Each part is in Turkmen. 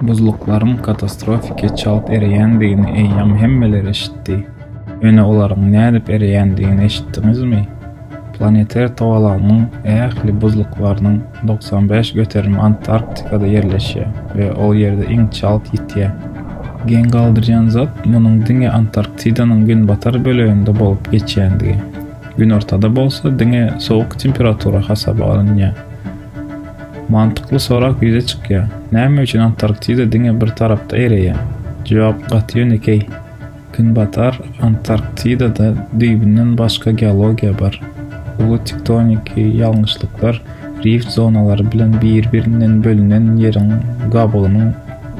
Buzluklaryň katastrofiki çalt ereýändigini eýýäm hemmeler eşitdi. Ýöne olaryň nädip ereýändigini eşitdiňizmi? Planeter togalagynyň ähli buzluklarynyň togsan bäş göterimi Antarktikada ýerleşýär we ol ýerde iň çalt ýitýär. Geň galdyrýan zat munuň diňe Antarktidanyň günbatar böleginde bolup geçýändigi. Günortada bolsa diňe sowuk temperatura hasaba alynýar. Mantykly sorag ýüze çykýar, näme üçin Antarktida diňe bir tarapda ereýär? Jogap gaty ýönekeý. Günbatar Antarktidada düýbünden başga geologiýa bar. Uly tektoniki ýalňyşlyklar rift zonalary bilen bir-birinden bölünen ýeriň gabygynyň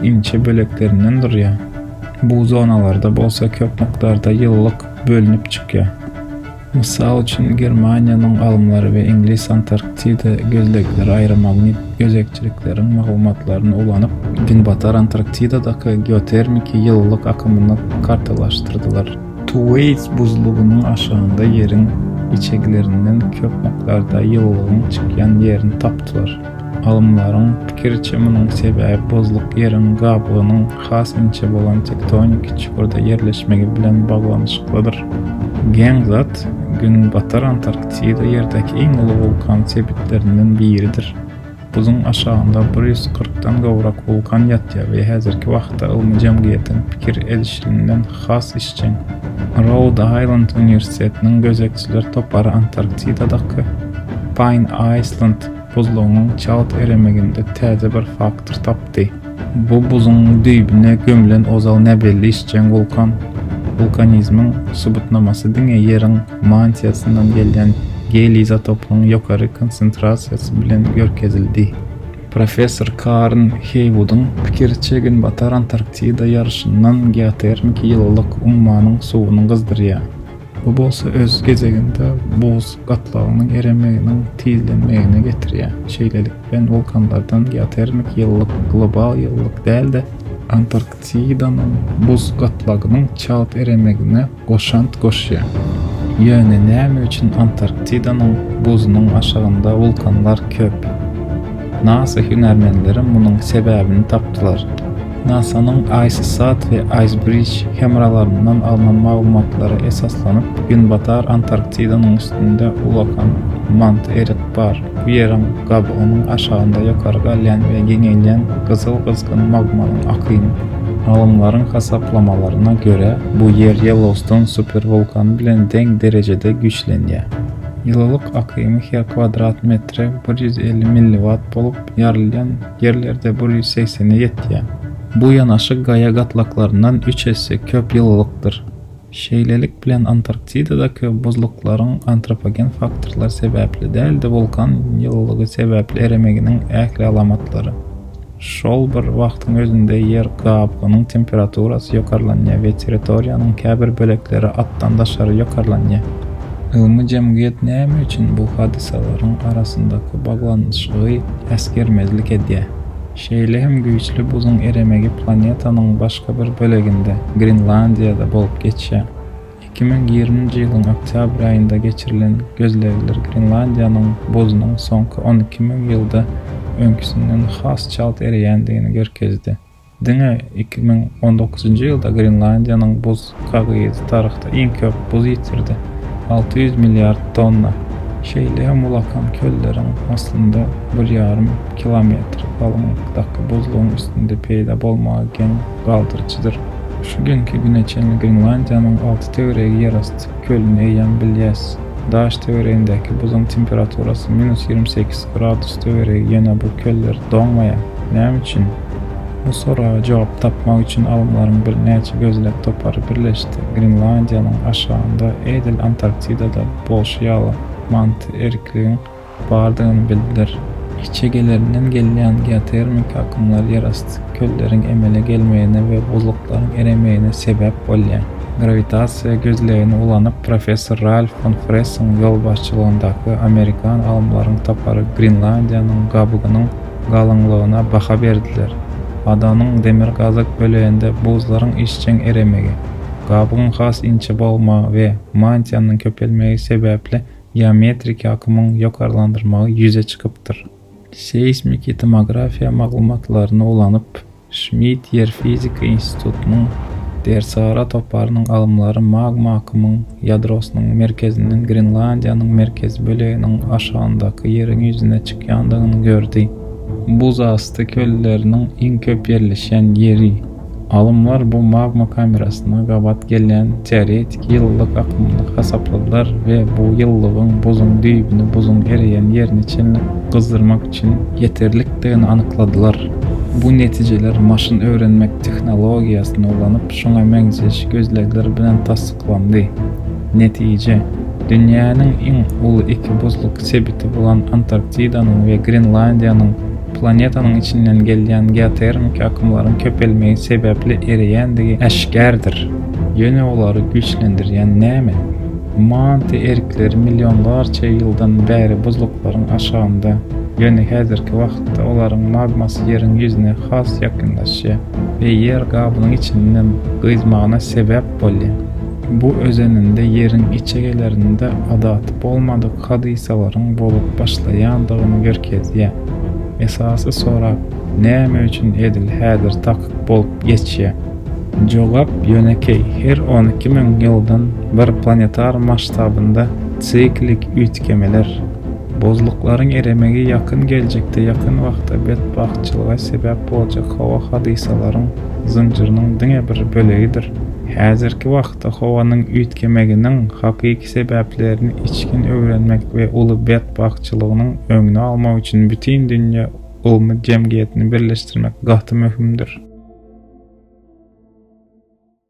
inçe böleklerinden durýar. Bu zonalarda bolsa köp mukdarda ýylylyk bölünip çykýar. Mysal üçin, Germaniýanyň alymlary we iňlis Antarktida gözlegleri aýrymagni gözegçilikleriň maglumatlaryny ulanyp, Günbatar Antarktidadaky geotermiki ýylylyk akymyny kartalaşdyrdylar. Tuweýs buzlugynyň aşagynda ýeriň içeglerinden köp mukdarda ýylylygyň çykýan ýerini tapdylar. Alymlaryň pikiriçe, munuň sebäbi buzluk ýeriň gabygynyň has inçe bolan tektoniki çukurda ýerleşmegi bilen baglanyşyklydyr. Geň zat, Günbatar Antarktida ýerdäki iň uly wulkan sebitlerinden biridir. Buzuň aşagynda bir ýüz kyrkdan gowrak wulkan ýatýar we häzirki wagtda ylmy jemgyýetiň pikir edişliginden has işjeň. Roud Aýland uniwersitetiniň gözegçiler topary Antarktidadaky Paýn Aýsland Buzlugyň çalt eremeginde täze bir faktor tapdy. Bu buzuň düýbüne gömlen ozal näbelli işjeň wulkan. Wulkanizmiň subutnamasy diňe Ýeriň mantiýasyndan gelýän geliý izotopynyň ýokary konsentrasiýasy bilen görkezildi. Professor Karn Heýwudyň pikiriçe Günbatar Antarktida ýaryşyndan geotermiki ýylylyk ummanyň suwuny gyzdyrýar. Bu bolsa öz gezeginde buz gatlagynyň eremeginiň tizlenmegine getirýär. Şeýlelikde, wulkanlardan geotermik ýylylyk global ýylylyk däl-de, Antarktidanyň buz gatlagynyň çalt eremegine goşant goşýar. Ýöne näme üçin Antarktidanyň buzunyň aşagynda wulkanlar köp? Nasa hünärmenleri munuň sebäbini tapdylar. NASA-nyň ICESat we IceBridge hemralaryndan alnan maglumatlara esaslanyp, Günbatar Antarktidanyň üstünde ullakan Mount Erik bar. Bu ýeriň gabygynyň aşagynda ýokary galýan we giňelýän gyzyl-gyzgyn magmanyň akyny. Alymlaryň hasaplamalaryna görä, bu ýer Ýellowston superwulkany bilen deň derejede güýçlenýär. Ýylylyk akymy her kwadrat metre bir ýüz elli milliwatt bolup, ýarylýan ýerlerde bir ýüz segsene ýetýär. Bu ýanaşyk gaýa gatlaklaryndan üç esse köp ýylylykdyr. Şeýlelik bilen Antarktidada köp buzluklaryň antropogen faktorlar sebäpli däl-de wulkan ýylylygy sebäpli eremeginiň ähli alamatlary. Şol bir wagtyň özünde ýer gabgynyň temperaturasy ýokarlanýar we territoriýanyň käbir bölekleri atdan daşary ýokarlanýar. Ylmy jemgyýet näme üçin bu hadysalaryň arasyndaky baglanyşygy äsgermezlik edýär? Şeýle hem güýçli buzuň eremegi planetanyň başga bir böleginde, Grenlandiýada bolup geçýär. Iki müň ýigriminji ýylyň oktýabr aýynda geçirilen gözlegler Grenlandiýanyň buzunyň soňky on iki müň ýylda öňküsinden has çalt ereýändigini görkezdi. Diňe iki müň on dokuzynjy ýylda Grenlandiýanyň buz kagyzy tarykda iň köp buz ýitirdi, alty ýüz milliard tonna. Şeýle hem ulakan kölleriň aslynda bir ýarym kilometr galyňlykdaky buzlugyň üstünde peýda bolmagy geň galdyryjydyr. Şu günki güne çenli Grenlandiýanyň alty töweregi ýerasty kölüni eýýäm bilýäs. Daş töweregindäki buzuň temperaturasy minus ýigrimi sekiz gradus töweregi ýöne bu köller doňmaýar. Näme üçin? Bu soraga jogap tapmak üçin alymlaryň birnäçe gözleg topary birleşdi. Grenlandiýanyň aşagynda, edil Antarktidada bolşy ýaly, manty erikligiň bardygyny bildiler. Kiçegelerinden gelýän geotermiki akymlar ýerasty kölleriň emele gelmegine we buzluklaryň eremegine sebäp bolýar. Grawitasiýa gözlegini ulanyp, professor Ralf fon Fressiň ýolbaşçylygyndaky amerikan alymlaryň topary Grenlandiýanyň gabygynyň galyňlygyna baha berdiler. Adanyň demir gazak böleginde buzlaryň işjeň eremegi, gabygyň has inçe bolmagy we mantiýanyň köpelmegi sebäpli geometrik akymyň ýokarlandyrmagy ýüze çykypdyr. Seýsmiki tomografiýa maglumatlaryny ulanyp, Şmit ýer fizika institutynyň Dersara toparynyň alymlary magma akymyň ýadrosynyň merkezinden Grenlandiýanyň merkezi böleginiň aşagyndaky ýeriň ýüzüne çykýandygyny gördi. Buzasty kölleriniň iň köp ýerleşýän ýeri. Alymlar bu magma kamerasyna gabat gelýän teoretik ýylylyk akymyny hasapladylar we bu ýylylygyň buzuň düýbüni buzuň ereýän ýerine çenli gyzdyrmak üçin ýeterlikdigini anykladylar. Bu netijeler maşyn öwrenmek tehnologiýasyny ulanyp, şuňa meňzeş gözlegler bilen tassyklandy. Netije, dünýäniň iň uly iki buzluk sebiti bolan Antarktidanyň we Grenlandiýanyň planetanyň içinden gelýän geotermiki akymlaryň köpelmegi sebäpli ereýändigi äşgärdir. Ýöne olary güýçlendirýän näme? Manty erikleri millionlarça ýyldan bäri buzluklaryň aşagynda, ýöne häzirki wagtda olaryň magmasy ýeriň ýüzüne has ýakynlaşýar we ýer gabynyň içinden gyzmagyna sebäp bolýar. Bu özeninde ýeriň içegelerinde adaty bolmadyk hadysalaryň bolup başlaýandygyny görkezýär. Esasy sorag, näme üçin edil häzir takyk bolup geçýär? Jogap ýönekeý, her on iki müň ýyldan bir planetar masştabynda siklik üýtgemeler, buzluklaryň eremegi ýakyn geljekde ýakyn wagtda betbagtçylyga sebäp boljak howa hadysalaryň zynjyrynyň diňe bir bölegidir. Häzirki wagtda howanyň üýtgemeginiň hakyky sebäplerini içgin öwrenmek we uly betbagtçylygynyň öňüni almak üçin bütin dünýä Gowmy jemgyýetini birleşdirmek gaty möhümdir.